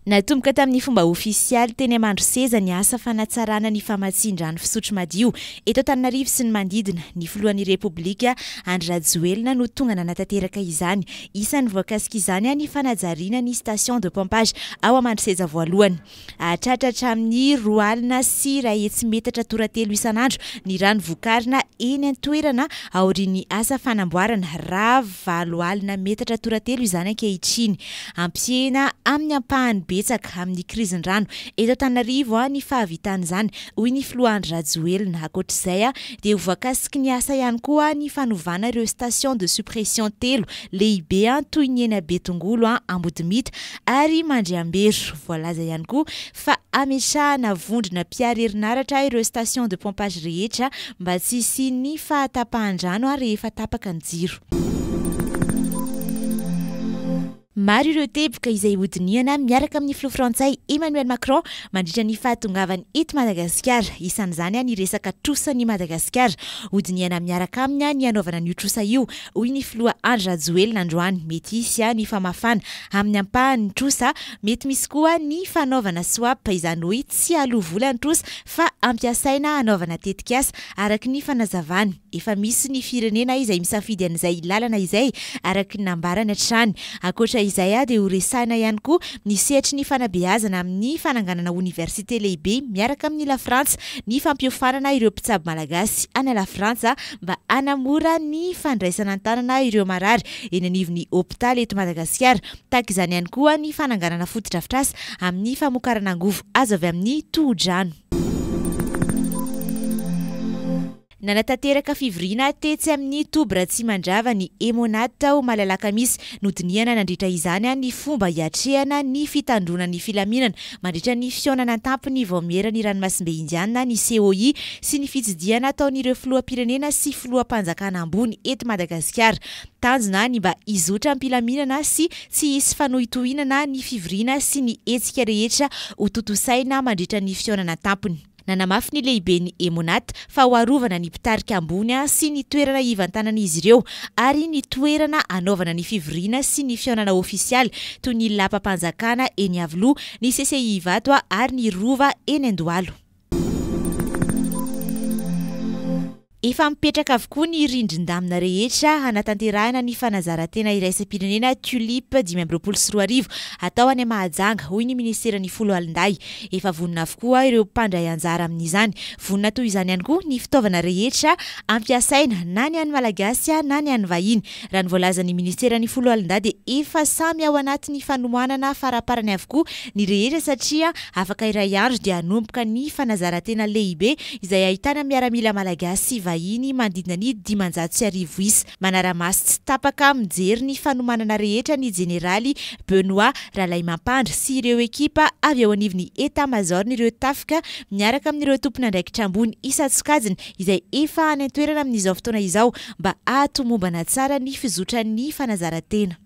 Natomboka tamin'ny fomba ofisialy teny Amandroseza ny asa fanatsarana ny famatsian-drano fisotro madio eto Antananarivo sy ny manodidina. Ny filohan'ny Repoblika, Andry Rajoelina, no tonga nanatanteraka izany. Isan'ny voakasik'izany ny fanajariana ny station de pompage ao Amandroseza voalohany. Hahatratra hatramin'ny roa alina sy iray hetsy metatra toratelo isan'andro ny rano vokarina eny an-toerana aorian'ny asa fanamboarana, raha valo alina metatra toratelo izany ankehitriny. Hampisehena amin'ny ampahany betsaka amin'ny krizin-drano eto Antananarivo ny fahavitan'izany, hoy ny filoha Andry Rajoelina. Ankoatra izay dia ho voakasiky ny asa ihany koa ny fanovana ireo station de suppression telo lehibe toy ny eny Betongolo, Ambodimita ary Mandriambero. Voalaza ihany koa fa hamesahana vondrona mpiaro herinaratra ireo station de pompage rehetra mba tsy hisian'ny fahatapahan-drano rehefa tapaka ny jiro. Maro ireo teboka izay hodinihana miaraka amin'ny filoha frantsay Emmanuel Macron mandritra ny fahatongavany eto Madagasikara. Isan'izany ny resaka trosan'i Madagasikara. Hodinihana miaraka aminy ny hanaovana an'io trosa io, hoy ny filoha Andry Rajoelina androany. Mety hisy ny famafana amin'ny ampahany ny trosa. Mety misy koa ny fanaovana swap, izany hoe tsy aloa vola ny trosa fa ampiasaina hanaovana tetikasa, araka ny fanazavany. Efa misy ny firenena izay misafidy an'izay lalana izay, araka ny nambarany hatrany. Ankoatra izay dia horesahina ihany koa ny sehatry ny fanabeazana amin'ny fananganana oniversite lehibe miaraka amin'i Lafrantsa, ny fampiofanana ireo mpitsabo malagasy any Lafrantsa mba hanamora ny fandraisana an-tanana ireo marary eny anivon'ny hopitaly eto Madagasikara. Tahaka izany ihany koa ny fananganana fotodrafitrasa amin'ny famokarana angovo azo avy amin'ny tohodrano. Nanatanteraka fivoriana tetsy amin'ny toby Ratsimandrava ny Emonat tao Malalakamisy. Nodinihana nandritra izany ny fomba hiatrehana ny fitandroana ny filaminana mandritra ny fihaonana an-tampony vaomieran'ny ranomasimbe Indiana, ny COI, sy ny fitsidihana ataon'ireo filoham-pirenena sy filoham-panjakana ambony eto Madagasikara. Tanjona ny mba hizotra am-pilaminana sy tsy hisy fanohitohinana ny fivoriana sy ny hetsika rehetra hotontosaina mandritra ny fihaonana an-tampony. Nanamafy ny lehiben'ny Emonat fa ho arovana ny mpitarika ambony sy ny toerana hivantanan'izy ireo ary ny toerana hanaovana ny fivoriana sy ny fihaonana ofisialy toy ny lapam-panjakana eny Iavoloha, ny CCI Ivato ary ny Rova eny Andohalo. Efa mipetraka avokoa ny rindrin-damina rehetra hanatanterahina ny fanazarantena iraisam-pirenena Tulip dimy amby roapolo sy roa arivo hatao any Mahajanga, hoy ny minisiteran'ny Foloalindahy. Efa vonona avokoa ireo mpandray anjara amin'izany. Vonona toy izany ihany koa ny fitaovana rehetra ampiasaina, na ny an'ny Malagasy na ny an'ny vahiny. Raha ny voalazan'ny minisiteran'ny foloalindahy dia efa samy ao anatin'ny fanohanana faraparany avokoa ny rehetra satria afaka iray andro dia hanomboka ny fanazarantena lehibe izay ahitana miaramila malagasy sy vahiny manodidina ny dimanjato sy arivo isa. Manara-maso tsy tapaka mijery ny fanomanana rehetra ny jeneraly Benoît Ralaimampandry sy ireo ekipa avy ao anivon'ny Etamazaoron'ireo tafika miaraka amin'ireo tompon'andraikitra ambony isan-tsokajiny izay efa any an-toerana amin'izao fotoana izao mba hahatomombana tsara ny fizotran'ny fanazaran-tena.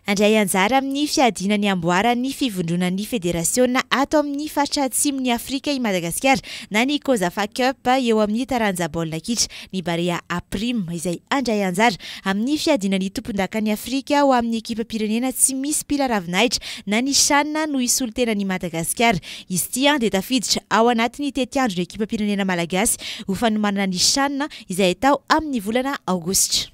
Handray anjara amin'ny fiadiana ny amboaran'ny fivondronan'ny federasiona ato amin'ny faritra Atsimon'i Afrika i Madagasikara na ny Cosafa Cup eo amin'ny taranja baolina kitra, ny Barea Aprim, izay handray anjara amin'ny fiadiana ny tompondakan'i Afrika ho amin'ny ekipam-pirenena tsy misy mpila ravinahitra na ny Chan no hisolo tena an'i Madagasikara Izy ity dia tafiditra ao anatin'ny tetiandron'ny ekipam-pirenena malagasy ho fanomanana ny Chan izay atao amin'ny volana aogositra.